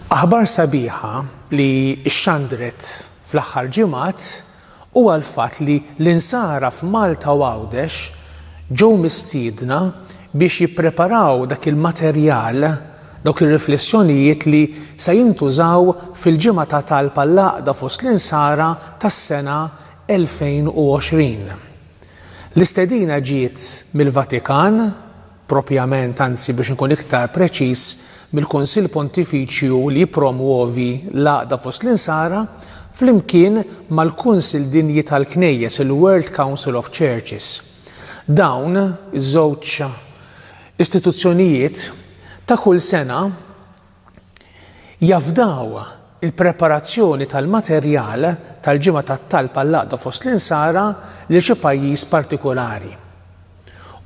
Aħbar sabiħa li xxandret fl-aħħar ġimgħat huwa l-fatt li l-Insara f'Malta u Għawdex ġew mistiedna biex jippreparaw dak il-materjal, dawk ir-riflessjonijiet li se jintużaw fil-Ġimgħa ta' Talb għall-Għaqda fost l-Insara tas-sena 2020. L-istedina ġiet mill-Vatikan, propjament, anzi biex inkun iktar preċiż, mill-Kunsill Pontifiċju li jippromwovi l-għaqda fost l-Insara, flimkien mal-Kunsill Dinji tal-Knejjes, il-World Council of Churches. Dawn iż-żewġ istituzzjonijiet ta' kull sena Jafdaw il-preparazzjoni tal-materjal tal-Ġimgħa tat-Talb għall-Għaqda fost l-Insara lil xi pajjiż partikulari.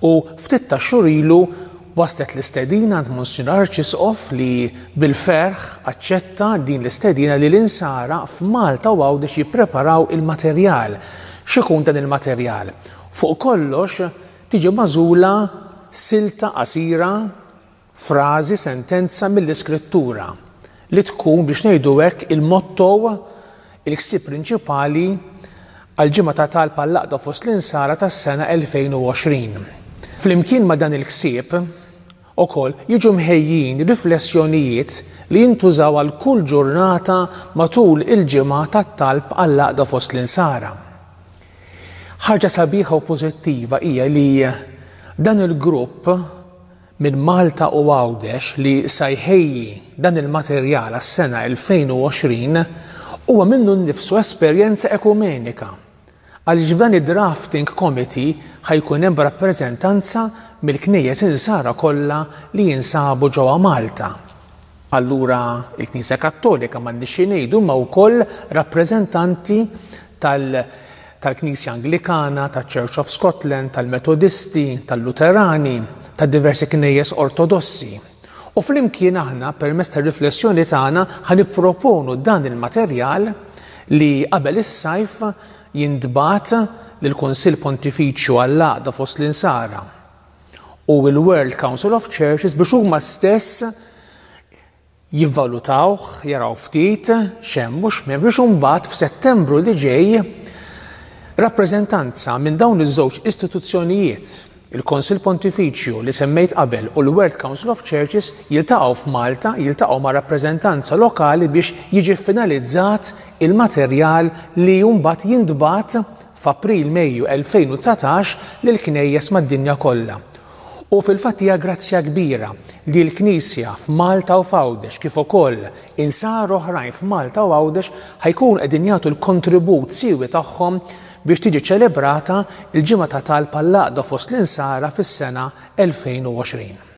U ftit tax-xhur ilu waslet l-istedina għand Monsinjur Arċisqof li bil-ferħ aċċetta din l-istedina li l-Insara f'Malta u Għawdex jippreparaw il-materjal x'ikun dan il-materjal. Fuq kollox tiġi magħżula silta qasira frażi, sentenza mill-Iskrittura, li tkun, biex ngħidu hekk, il-motto, il-ħsieb prinċipali għall-Ġimgħa ta' Talb għall-Għaqda fost l-Insara tas-sena 2020. Flimkien ma' dan il-ħsieb, ukoll jiġu mħejjin riflessjonijiet li jintużaw għal kull ġurnata matul il-Ġimgħa tat-Talb għall-Għaqda fost l-Insara. Ħaġa sabiħa u pożittiva hija li dan il-grupp minn Malta u Għawdex li sa jħejji dan il-materjal għas-sena 2020 huwa minnu nnifsu esperjenza ekumenika għaliex f'dan id-drafting committee ħa jkun hemm rappreżentanza mill-Knejjes Insara kollha li jinsabu ġewwa Malta. Allura il-Knisja Kattolika m'għandniex xi ngħidu imma wkoll rappreżentanti tal tal-Knisja Anglikana, taċ-Church of Scotland, tal-Metodisti, tal-Luterani, ta' diversi knejjes Ortodossi. U flimkien aħna permezz tar-riflessjoni tagħna ħa nipproponu dan il-materjal li qabel is-sajf jintbagħat lill-Kunsill Pontifiċju għall-għaqda fost l-insara. u l-World Council of Churches biex huma stess jivvalutawh, jaraw ftit xem u x'mem biex imbagħad f'Settembru li ġej rappreżentanza minn dawn iż-żewġ istituzzjonijiet, il-Konsil Pontifiċju li semmejt qabel u l-World Council of Churches jiltaqgħu f'Malta, jiltaqgħu ma' rappreżentanza lokali biex jiġi finalizzat il-materjal li mbagħad jintbagħat f'April-Mejju 2019 lill-Knejjes mad-dinja kollha. U fil-fatt hija grazzja kbira li l-Knisja f'Malta u f'Għawdex kif ukoll Insara oħrajn f'Malta u Għawdex ħa jkunu qegħdin jagħtu l-kontribut siewi tagħhom biex tiġi ċelebrata l-Ġimgħa ta' Talb għall-Għaqda fost l-Insara fis-sena 2020.